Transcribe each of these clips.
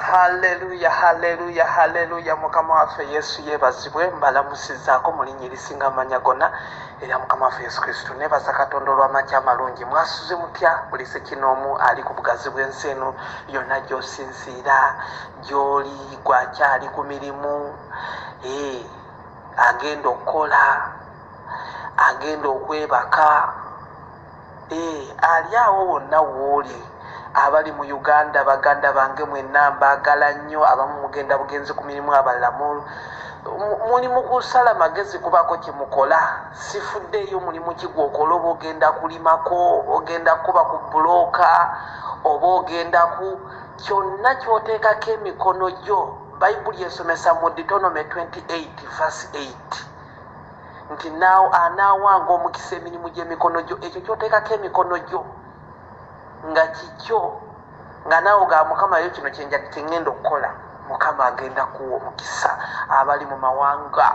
haleluya haleluya haleluya mukama waffe yesu yebazibwe mbalamusizaako mu linnya erisinga amanya gonna era mukama waffe yesu kristo nebaza katonda olw'amaki amalungi mwasuze mutya buli sekinoomu ali ku bugazi bw'ensi eno yonna gy'osinziira gy'oli gwakyali ku mirimu ee agenda okukola agenda okwebaka Eh, ali awo wonna wooli abali mu uganda baganda bange mwenna mbaagala nnyo abamu mugenda bugenzi ku mirimu abalala muli mu kusala magezi kubaako kye mukola sifuddeeyo mulimu ki gwokola oba ogenda kulimako ogenda kukuba ku bulooka oba ogenda ku kyonna kyoteekako emikono gyo bayibuli esomesa mu ditonome 28 vas 8 nti naawo anaawanga omukisa emirimu gy'emikono gyo ekyo kyoteekako emikono gyo nga kikyo nga naawe ga mukama yo kino kyeŋŋenda okukola mukama agenda kuwa omukisa abali mu mawanga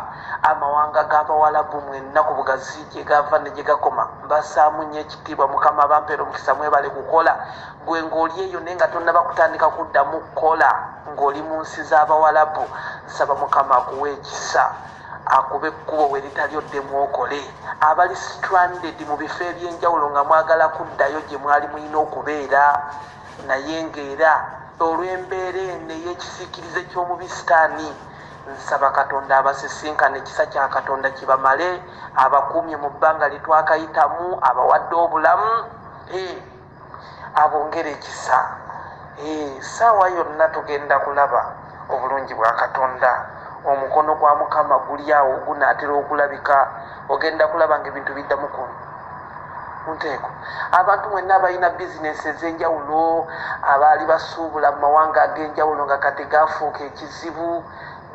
amawanga g'abawalabu mwenna ku bugazi gye gava ne gye gakoma mbasaamu nnyo ekitiibwa mukama abampeera omukisa mwebale kukola gwe ng'oli eyo naye nga tonnaba kutandika kuddamu kukola ng'oli mu nsi z'abawalabu nsaba mukama akuwa ekisa akube ekkubo we litali oddemu okole abali stranded mu bifo eby'enjawulo nga mwagala kuddayo gye mwali mulina okubeera naye ng'era olw'embeera eno ey'ekisiikirize ky'omubi sitaani nsaba katonda abasisinkana ekisa kya katonda kibamale abakuumye mu bbanga litwakayitamu abawadde obulamu eh. abongere ekisa saawa yonna tugenda kulaba obulungi bwa katonda omukono gwa mukama guli awo gunaatera okulabika ogenda kulaba nga ebintu biddamu ku nteeko abantu mwenna abalina bizinesi ez'enjawulo abaali basuubula mu mawanga ag'enjawulo nga kati gafuuka ekizibu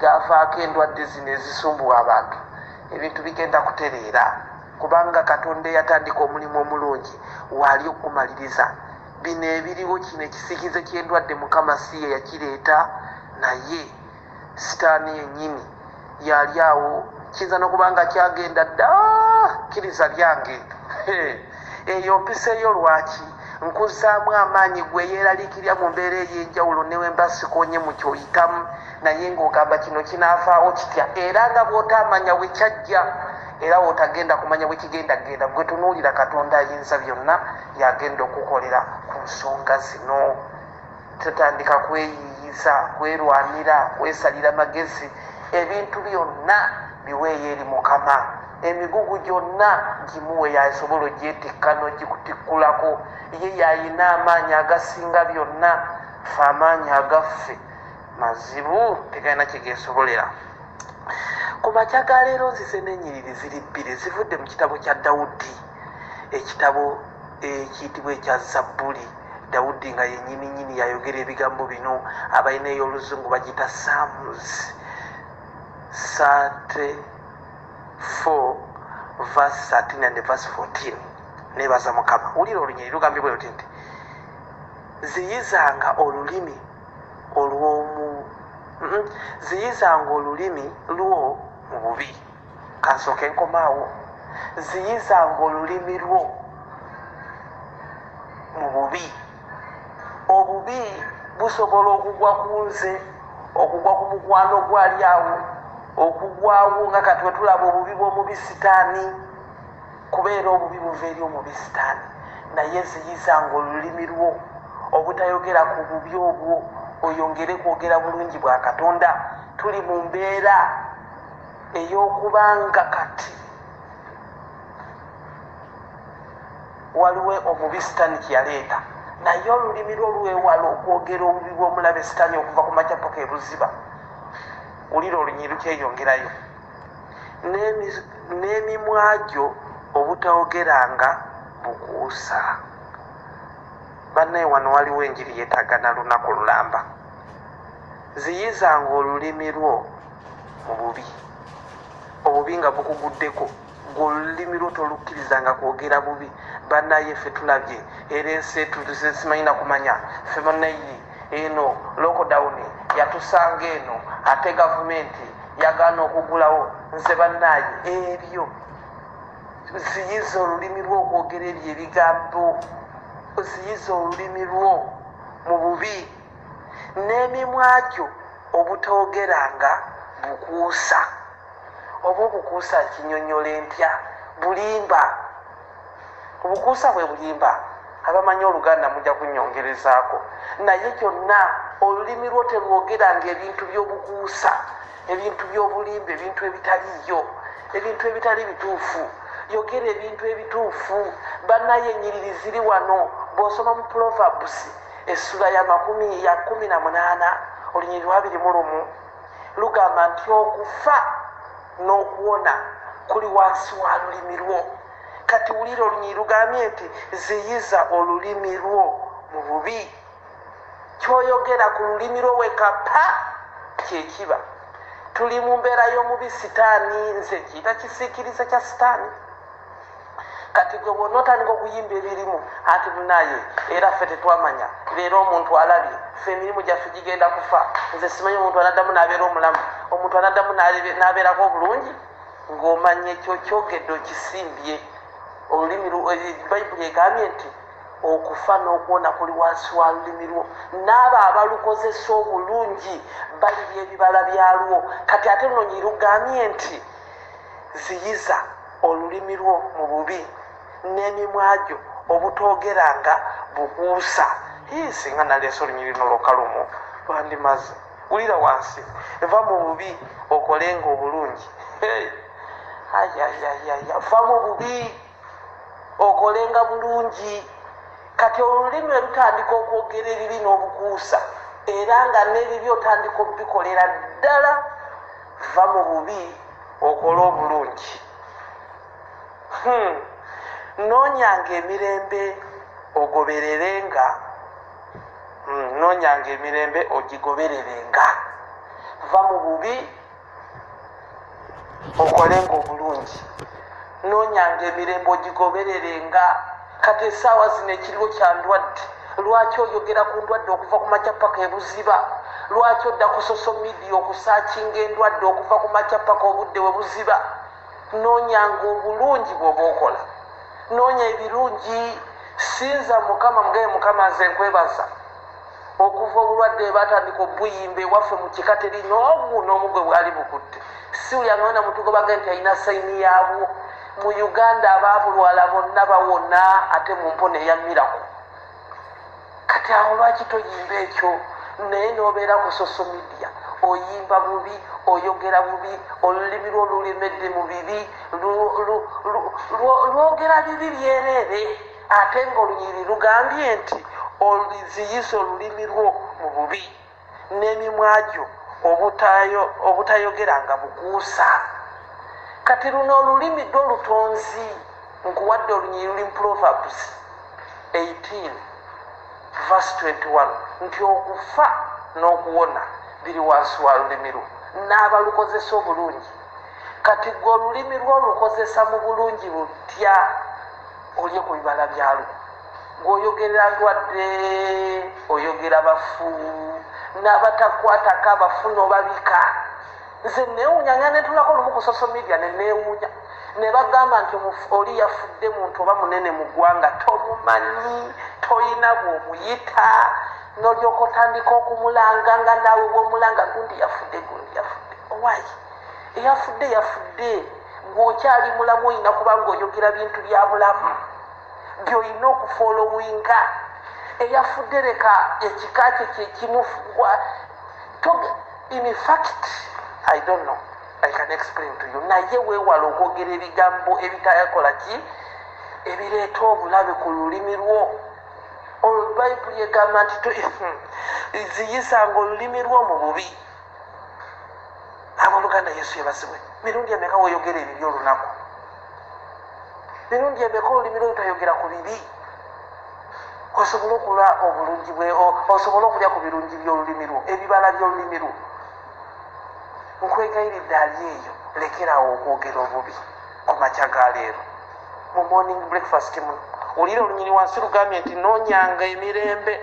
gavaako endwadde zino ezisumbuwa abantu ebintu bigenda kutereera Kubanga Katonda eyatandika omulimu omulungi waali okugumaliriza. Bino ebiriwo, kino ekisikize ky'endwadde, Mukama si ye yakireeta, naye Sitaani yennyini yaali awo. Kiyinza n'okuba nga kyagenda dda. Kkiriza byange. Eyo mpiso yo lwaki? Nkuzzaamu amaanyi gwe eyeeraliikirira mu mbeera ey'enjawulo ne bwe mba sikoonye mu ky'oyitamu, naye ng'ogamba, Kino kinaavaawo kitya? Era nga bw'otaamanya we kyajja. era wotagenda kumanya bwekigenda kugenda gwe tunuulira katonda ayinza byonna yagenda okukolera ku nsonga zino tutandika kweyiyiza kwerwanira kwesalira magezi ebintu byonna biweeyo eri mukama emigugu gyonna gimuwe yasobola ogyetikka nogikutikkulako ye yayina amaanyi agasinga byonna fe amaanyi agaffe mazibu tegalina kyegesobolera ku makya ga leero nzize n'enyiriri ziri bbiri zivudde mu kitabo kya dawudi ekitabo ekiyitibwa ekya zabbuli dawudi nga yenyini nyini yayogera ebigambo bino abalina ey'oluzungu bagiyita sams sate 4 verse 13 and verse 14 nebaza mukama wulira olunyiri lugambibwa oti nti ziyizanga olulimi olw'omu ziyizanga olulimi lwo mu bubi kansooka enkomaawo ziyizanga olulimi lwo mu bubi obubi busobola okugwa ku nze okugwa ku mukwano gwali awo okugwawo nga kati wetulaba obubi bw'omubi sitaani kubeera obubi buva eri omubi sitaani naye ziyizanga olulimi lwo obutayogera ku bubi obwo oyongere kwogera bulungi bwa katonda tuli mu mbeera ey'okubanga kati waliwo omubi sitaani kyeyaleeta naye olulimi lwo lwewala okwogera obubi bw'omulabe sitaani okuva ku makyapaka ebuziba wulira olunyiri kyeyongerayo n'emimwa gyo obutawogeranga bukuusa bannaye wano waliwo enjiri yetaaga na lunaku lulamba ziyizanga olulimi lwo mu bubi obubi nga bukuguddeko Gwe olulimi lwo tolukkirizanga kwogera bubi banaye ffe tulabye era ensi etutuze simanyi nakumanya ffe banaye eno lockdown yatusanga eno ate gavumenti yagaana okugulawo nze banaye ebyo ziyiza olulimi lwo okwogera ebyo ebigambo ziyiza olulimi lwo mu bubi n'emimwa gyo obutoogeranga bukuusa oba obukuusa nkinyonyola empya bulimba obukuusa bwe bulimba abamanyi oluganda mujja kunyongerezaako naye kyonna olulimi lwo terwogeranga ebintu by'obukuusa ebintu by'obulimba ebintu ebitaliyo ebintu ebitali bituufu yogera ebintu ebituufu banaye enyiriri ziri wano bw'osoma mu pulovabusi Essula ya makumi ya kumi na munaana olunyiri lwabiri mu lumu lugamba nti okufa n'okuwona kuli wansi wa lulimi lwo kati wulira olunyiri lugambye nti ziyiza olulimi lwo mu bubi kyoyogera ku lulimi lwo wekapa kyekiba tuli mu mbeera y'omubi sitaani nze kiyita kisiikirize kya sitaani kati gwe bwona otandika okuyimba ebirimu anti munaye era ffe tetwamanya leero omuntu alabye ffe emirimu gyaffe gigenda kufa nze simanyi omuntu anaddamu nabeera omulamu omuntu anaddamu nabeerako obulungi ng'omanya ekyo kyogedde okisimbye olulimi eh, bayibuli egambye nti okufa n'okuwona kuli wansi wa lulimi lwo n'abo abalukozesa obulungi balibya ebibala byalwo kati ate lunonyi lugambye nti ziyiza olulimi lwo mu bubi n'emimwa gyo obutoogeranga bukuusa hii singa naleese olunyiri luno lwoka lumu lwandimaze wulira wansi va mu bubi okolenga obulungi ayayayaya va mu bubi okolenga bulungi kati olulimi olutandika okwogera ebibi n'obukuusa era nga n'ebibi otandika obikolera ddala va mu bubi okole obulungi hmm. nonyanga emirembe ogobererenga hmm, nonyanga emirembe ogigobererenga va mu bubi okolenga obulungi nonyanga emirembe ogigoberere nga kati esaawa zino ekiriwo kya ndwadde lwaki oyogera ku ndwadde okuva ku makya paka ebuziba lwaki odda ku social media okusakinga endwadde okuva ku makya paka obudde we buziba nonyanga obulungi bwoba okola nonya ebirungi sinza mukama mugaye mukama nze nkwebaza okuva obulwadde webatandika obuyimba ewaffe mu kika teri noogu noomu gwe bwali bukutte siuli amwena mutugobage nti alina sayini yaabwo mu uganda abaabulwala bonna bawona ate mu mpona eya miraku kati awo lwaki toyimba ekyo naye nobeera ku soso midia oyimba bubi oyogera bubi olulimi lwo lulemedde mu bibi lwogera bibi byereere Ate ng'olunyiriri lugambye nti, Oliziyisa olulimi lwo mu bubi, n'emimwa gyo obutayogeranga bukuusa. Kati luno olulimi ddwo lutonzi. Nkuwadde olunyiriri luli mu Proverbs 18 verse 21 nti okufa n'okuwona biri wansi wa lulimi lwo n'abalukozesa obulungi. Kati gwe olulimi lwo olukozesa mu bulungi butya? olye ku bibala byalwo ng'oyogerera ndwadde oyogera bafu n'abatakwatako abafu n'obabika nze neewunya nga netulako lumu ku social media ne neewunya ne bagamba nti oli yafudde muntu oba munene mu ggwanga tomumanyi toyina bw'omuyita n'olyoka otandika okumulanga nga naawe bw'omulanga gundi yafudde gundi yafudde owayi eyafudde yafudde gweokyali mulamu olina kubanga oyogera bintu bya bulamu byolina okufolowinga eyafudde leka ekika kye kyekimufugwa infact i don't know i can explain to you naye wewala okwogera ebigambo ebitayakola ki ebireeta obulabe ku lulimi lwo olwo bayibuli egamba nti ziyisanga olulimi lwo mu bubi aboluganda yesu yebazibwe mirundi emeka woyogera ebibi olunaku mirundi emeka olulimi lwotayogera ku bibi osobole okula obulungi bwe osobole okulya ku birungi byolulimi lwo ebibala byolulimi lwo nkwegayiridde ali eyo lekerawo okwogera obubi ku makya ga leero mu morning breakfast muno wulira olunyiri wansi lugambye nti nonyanga emirembe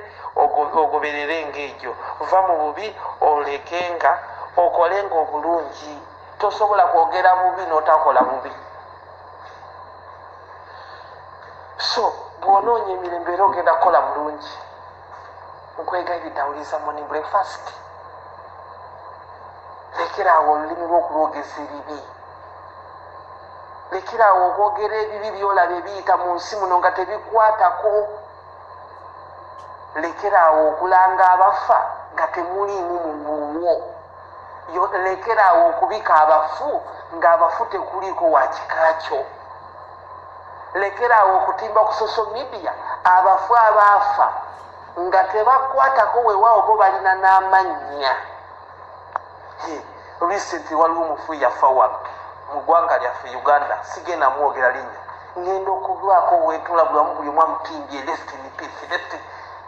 ogoberere ngaegyo va mu bubi oleke nga okole nga obulungi tosobola kwogera bubi notakola bubi so bwonoonya emirembe era ogenda kukola bulungi nkwegayiride awuliriza morning breakfast lekeraawo olulimi lwokulwogeza ebibi lekeraawo okwogera ebibi byolaba ebiyita mu nsi muno nga tebikwatako lekeraawo okulanga abafa nga temuliimu muguwo lekeraawo okubika abafu ng'abafu tekuliiko wakikakyo lekeraawo okutimba ku social media abafu abaafa nga tebakwatako wewaawo bo balina n'amannya recently waliwo omufu yafa wa mu ggwanga lyaffe uganda sigenda mwogera linnya ngenda okulwako wetula bulamu buli omu amutimbye left in peace left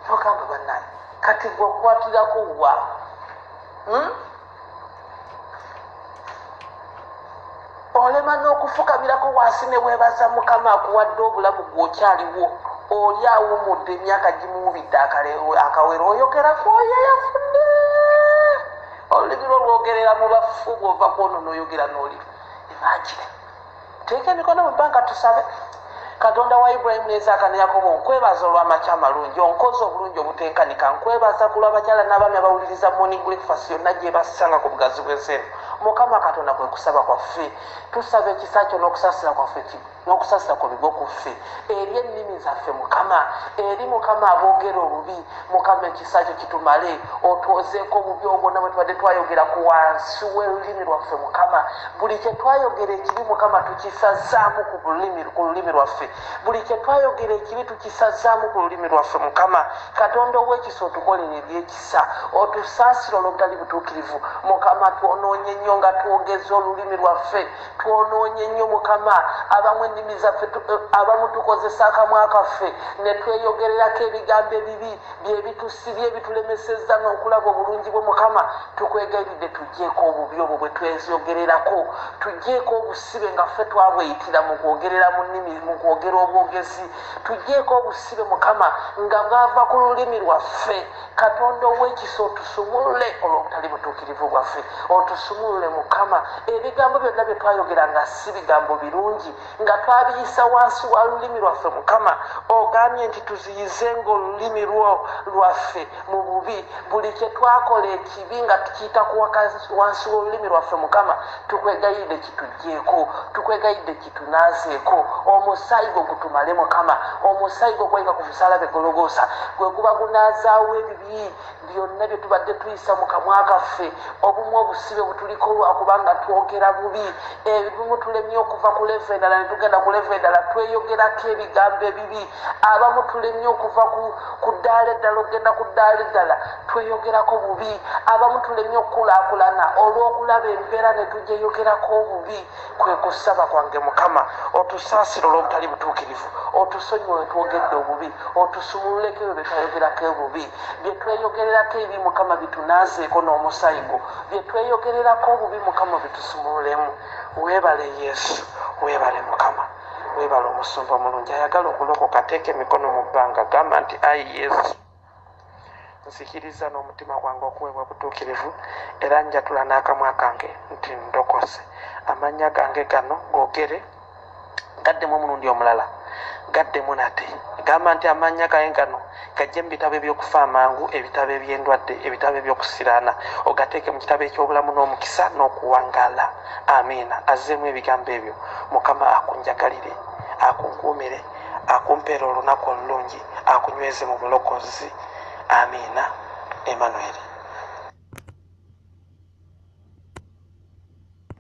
nogamba banaye kati gwakwatirakowa hmm? olema n'okufukamirako wansi ne weebaza mukama akuwadde obulamu gwokyaliwo oli awumudde emyaka gimuwubidde akawera oyogera kwoyo yafudde olulimi lwo lwogerera mu bafu bwova kwonona oyogera n'oli imagine teeka emikono mu banka tusabe katonda wa ibulayimu nezaaka ne yakobo nkwebaza olw'amaki amalungi onkozi obulungi obutenkanika nkwebaza ku lw'abakyala n'abaami abawuliriza moni breakfast yonna gyebasanga ku bugazi bw'enseeno mukama katonda kwe kusaba kwaffe tusaba ekisa kyo n'okusasira kwaffe n'okusasira kwebigwe ku ffe eri ennimi zaffe mukama eri mukama aboogera obubi mukama ekisa kyo kitumale otwozeeko obubi obwonna bwe tubadde twayogera ku wansi w'olulimi lwaffe mukama buli kye twayogera ekibi mukama tukisazaamu ku lulimi lwaffe buli kye twayogera ekibi tukisazaamu ku lulimi lwaffe mukama katonda ow'ekisa otukolera ebyekisa otusaasira olwobutali butuukirivu mukama twonoonye nnyo nga twogeza olulimi lwaffe Twonoonye nnyo mukama abamu ennimi zaffe abamu tukozesa akamwa kaffe ne tweyogererako ebigambo ebibi bye bitusibye ebitulemesezza n'okulaba obulungi bwo mukama tukwegayiridde tuggyeko obubi obwo bwe tweyogererako tuggyeko obusibe nga ffe twabweyitira mu kwogerera mu nnimi mu kwogera obwogezi tuggyeko obusibe mukama nga bwava ku lulimi lwaffe katonda owekisa otusumulule olwobutali butuukirivu bwaffe otusumulule mukama ebigambo byonna byetwayogera nga si bigambo birungi nga twabiyisa wansi wa lulimi lwaffe mukama ogambye nti tuziyize nga olulimi lwo lwaffe mu bubi buli kyetwakola ekibi nga tukiyitaku wansi w'olulimi lwaffe mukama tukwegayidde kitujjeeko tukwegayidde tunazeeko omusaayi gwo gutumale mukama omusaayi gwo gwayika ku musalaba egologoosa gwe guba gunazaawo ebibi byonna bye tubadde tuyisa mu kamwa kaffe obumu obusibe butuliko lwakubanga twogera bubi ebimu tulemye okuva ku leva endala ne tugenda ku leva endala tweyogerako ebigambo ebibi abamu tulemye okuva ku ddaala eddala okugenda ku ddaala eddala tweyogerako bubi abamu tulemye okukulaakulana olw'okulaba embeera ne tugyeyogerako obubi kwe kusaba kwange mukama otusaasire olw'obutali butuukirivu otusonyiwe wetwogedde obubi otusumululeko ebyo byetwayogerako obubi byetweyogererako ebi mukama bitunaazeeko n'omusayi gwo byetweyogererako obubi mukama bitusumululemu weebale yesu weebale mukama weebale omusumba omulungi ayagala okulokoka ateeka emikono mu bbanga gamba nti ayi yesu Nzikiriza n'omutima gwange okuweebwa obutuukirivu, era njatula n'akamwa kange nti ndokose. Amannya gange gano googere gaddemu omulundi omulala, gaddemu nate. Gamba nti amannya gange gano gajje mu bitabo eby'okufa amangu, ebitabo eby'endwadde, ebitabo eby'okusiraana, ogateeke mu kitabo eky'obulamu n'omukisa n'okuwangaala. Amiina. Azzeemu ebigambo ebyo. Mukama akunjagalire, akunkuumire. akumpeera olunaku olulungi akunyweze mu bulokozi amiina emanueri